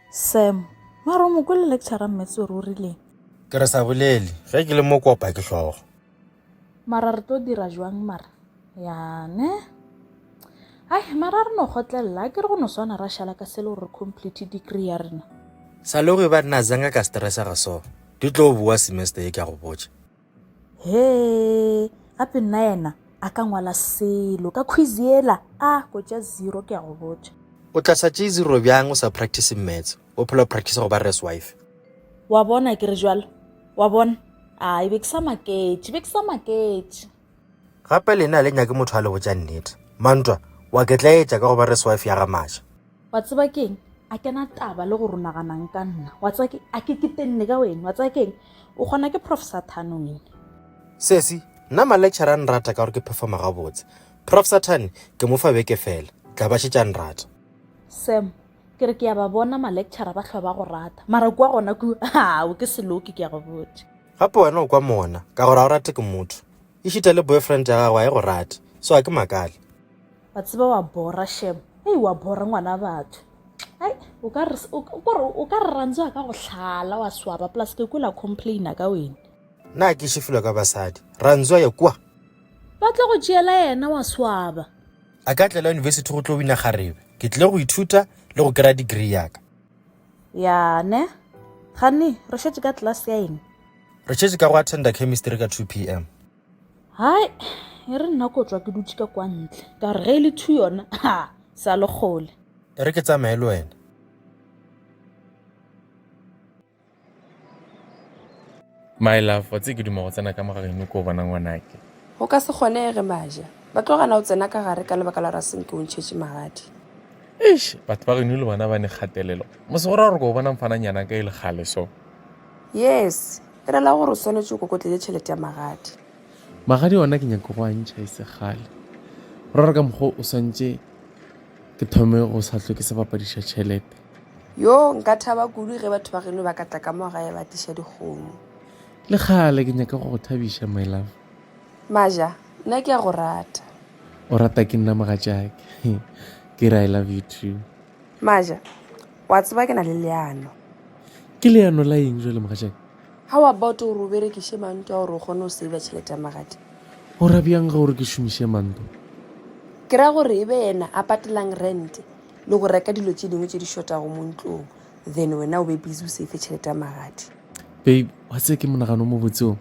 sam mara o mo kwele lecture mmetse ore o rileng ke re sa bolele ge ke le mo kopa ke hlogo mara re tlo dira jwang mara yane ai mara re no gotlelela ke re go no swana ra šala ka sele gore re complete degree ya rena sa le go e ba nna zanga ka stressa ga so di tlo boa semester e ka go botša Hee, gape nna yena a ka ngwala selo ka quiz yela? A ko tša zero ke a go botša. O tla sa tšee zero bjang o sa practice maths? O phela o practice go ba res wife. Wa bona ke re bjalo? Wa bona? Ai, be ke sa maketše, be ke sa maketše. Gape lena ha le nyake motho a le botša nnete. Mantwa, wa ke tla etša ka go ba res wife ya ga Masha. wa tseba keng a kena taba le go rona ganang ka nna wa tseba ke a ke ketenne ka wena wa tseba keng o kgona ke prof sathane wena sesi nna malecture a nrata ka gore ke performa gabotse prof sathane ke mo fa beke fela tla ba šetša nrata sam ke re ke ya ba bona malecture ba tlhwa ba go rata mara kua gona ku ao ke seloke ke ya go botša gape wena o kwa mona ka gore a o rate ke motho e šita le boyfriend ya gago a e go rate so a ke makale Wa tseba wa bora shem ei wa bora ngwana batho ai o ka re o ka re ranzo a ka go hlala wa swaba plus ke kwela complain ka wena na ke shifilwa ka basadi ranzo ya kwa ba tlo go tšeela yena wa swaba a ka tlela university go tlo wina garebe ke tle go ithuta le go kry-a degree yaka yane gane re šetse ka class ya eng re šetse ka go attenda chemistry ka 2 p m hai e re nna ko tswa ke dutše ka kwa ntle ka gore ge e le two yona ha sa le kgole e re ke tsamaye le wena my love wa tse ke duma go tsena ka mogageno ko o bona ngwanake go ka se kgonege maja ba tlo gana o tsena ka gare ka lebaka la raseng ke o ntšhetše magadi eish batho ba geno le bona ba ne kgatelelo mose go ra gore ko o bona mfananyana ka e le gale so Yes, e rela gore o swanetše o kokotletše tšhelete ya magadi. Magadi ona ke nyake go a ntšha e se kgale. Go rera ka mokgwa o swantše ke thome go sa hlwe ke se bapadiša tšhelete. Yo, nka thaba kudu ge batho ba geno ba ka tla ka mo gae ba tliša dikgomo. Le kgale ke nyake go go thabiša, my love. Maja, nna ke a go rata. O rata ke nna mogatšake. Ke re I love you too. Maja, O a tseba ke na le leano. Ke leano la eng jwale mogatšaka? How about gore o berekiše manto a gore o kgone go saver tšhelete ya magadi? Go ra bjang ga gore ke šomiše manto? Ke ra gore e be yena a patelang rent le go reka dilo tše dingwe tše di šotago mo ntlong then wena o be busy o safe tšhelete ya magadi. Babe, wa tseba ke monagano o mobotse o.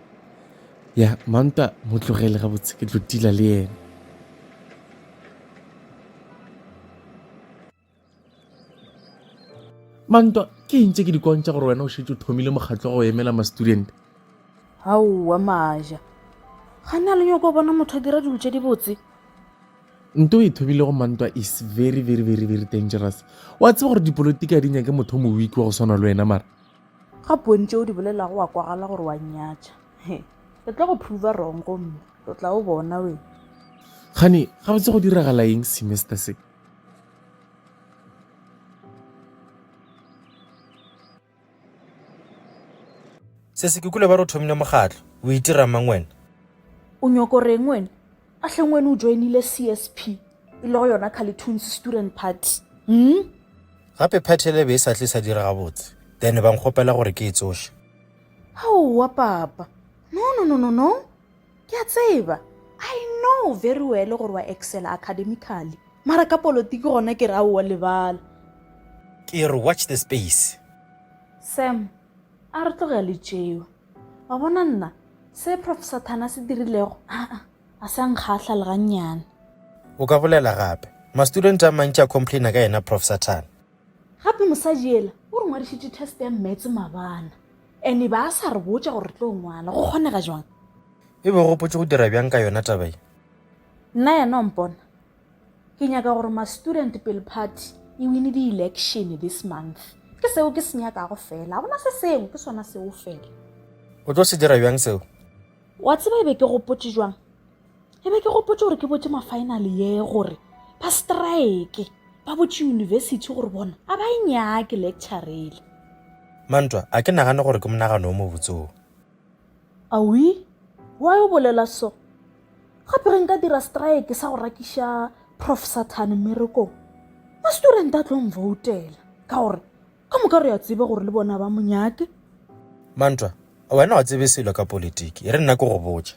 Ya, manta mo tlogele gabotse ke tlo tila le yena. mantwa ke ntse ke di kontša gore wena o šetse o thomile mokgatlo go emela ma-student gaowa maja ga ne a le nyoko bona motho a dira dilo tse di botse nto e thobilego mantwa is very very very very dangerous wa tseba gore dipolotiki a di nyake motho o mowiki wa go swana le wena mara ga pontse o di bolelago wa kwagala gore wa nyatša o tla go prova wrong gomme o tla o bona wena gane ga botse go diragala eng semester se se se kukule ba re o thomile mokgatlo o itira mang wena o nyoko reng wena a hleng wena o joinile csp e le go yona caletoons student party hmm? gape party ele be e sa tle sa dira gabotse then ba nkgopela gore ke e tsoše aowa papa no no no no no Ke a tseba. I know very well gore wa excela academically. Mara ka polotiki gona ke re aowa lebala. Ke re watch the space. Sam, a re tlogea le tšeo. Wa bona nna, se Prof Sathane a se dirilego, aa, ga se a nkgahla le gannyane. O ka bolela gape. Ma-student a mantši a complaina ka yena Prof Sathane. Gape mosadi yela o re ngwadišitše test ya Maths mabana. Ene ba sa re botša gore re tlo ngwala, go kgonega jwang? E be go potše go dira bjang ka yona taba ye? Nna yena o mpona. Ke nyaka gore ma student pele party e wine di election this month. Ke seo ke se nyakago fela. Ha gona se sengwe ke sona seo fela. O tlo se dira bjang seo? Wa tseba e be ke go potše jwang? e be ke gopotse gore ke botse mafinale ye gore ba strike ba botse university gore bona a ba e nyake lecturele mantwa a ke nagane gore ke monagano o mobotseo awi wa yo bolela so gape re nka dira strike sa go rakiša prof sathane mmerekong ma-student a tlong voutela ka gore ka moka re ya tsebe gore le bona ba monyake mantwa wena wa tsebe selo ka politiki e re nna ke go botša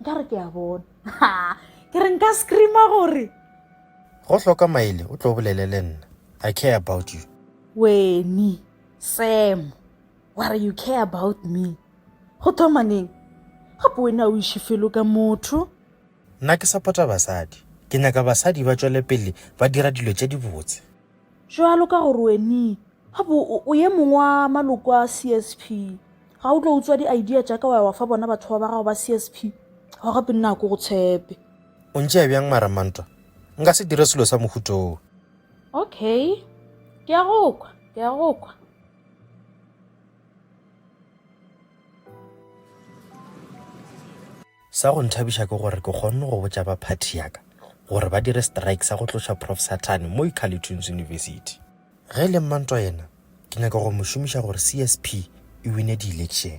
nka re ke a bona ke re nka screama gore go hloka maele o tlo bolele le nna i care about you weni sam ware you care about me go thoma neng gape wena o iše felo ka motho nna ke suppota basadi ke nyaka basadi ba tšwele pele ba dira dilo tše dibotse Bjalo ka gore weni a bo o ye mongwe wa maloko a CSP, ga o tlo utswa di-idea tša ka wa ya wa fa bona batho ba ba gago ba CSP, ao gape nna a ko go tshepe. O ntšea bjang maramantwa? Nka se dire selo sa mohuto wo. Okay, ke a go kwa, ke a go kwa. Sa go nthabiša ke gore ke kgonne go botša ba phathi ya ka gore ba dire strike sa go tloša Prof Sathane mo Icarletunes University. Ge e le Mmantwa yena, ke nyaka go mo šomiša gore CSP e wine di-election.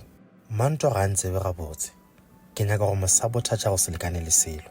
Mmantwa ga a ntsebe gabotse. Ke nyaka go mo sabothatša go se lekane le selo.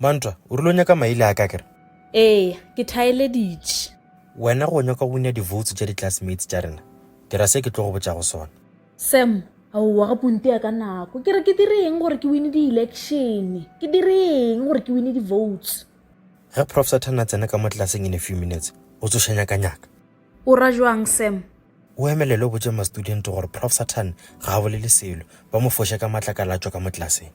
Mantwa, o rile o nyaka maile a ka kere? Eya, ke thaeleditše. Wena go nyaka go wina di-votes tša di-classmates tša rena? Dira se ke tlo go botšago sona. Sam, Aowa ga ponte ya ka nako. Ke re ke dire eng gore ke wine di-election? Ke dire eng gore ke wine di-votes? Ge Prof Sathane a tsena ka mo tlelaseng in a few minutes, o tsoša nyakanyaka. O ra bjang, Sam? O emelele o botše ma-student gore Prof Sathane ga a bolele selo, ba mo foše ka matlakala a tšwa ka mo tlelaseng.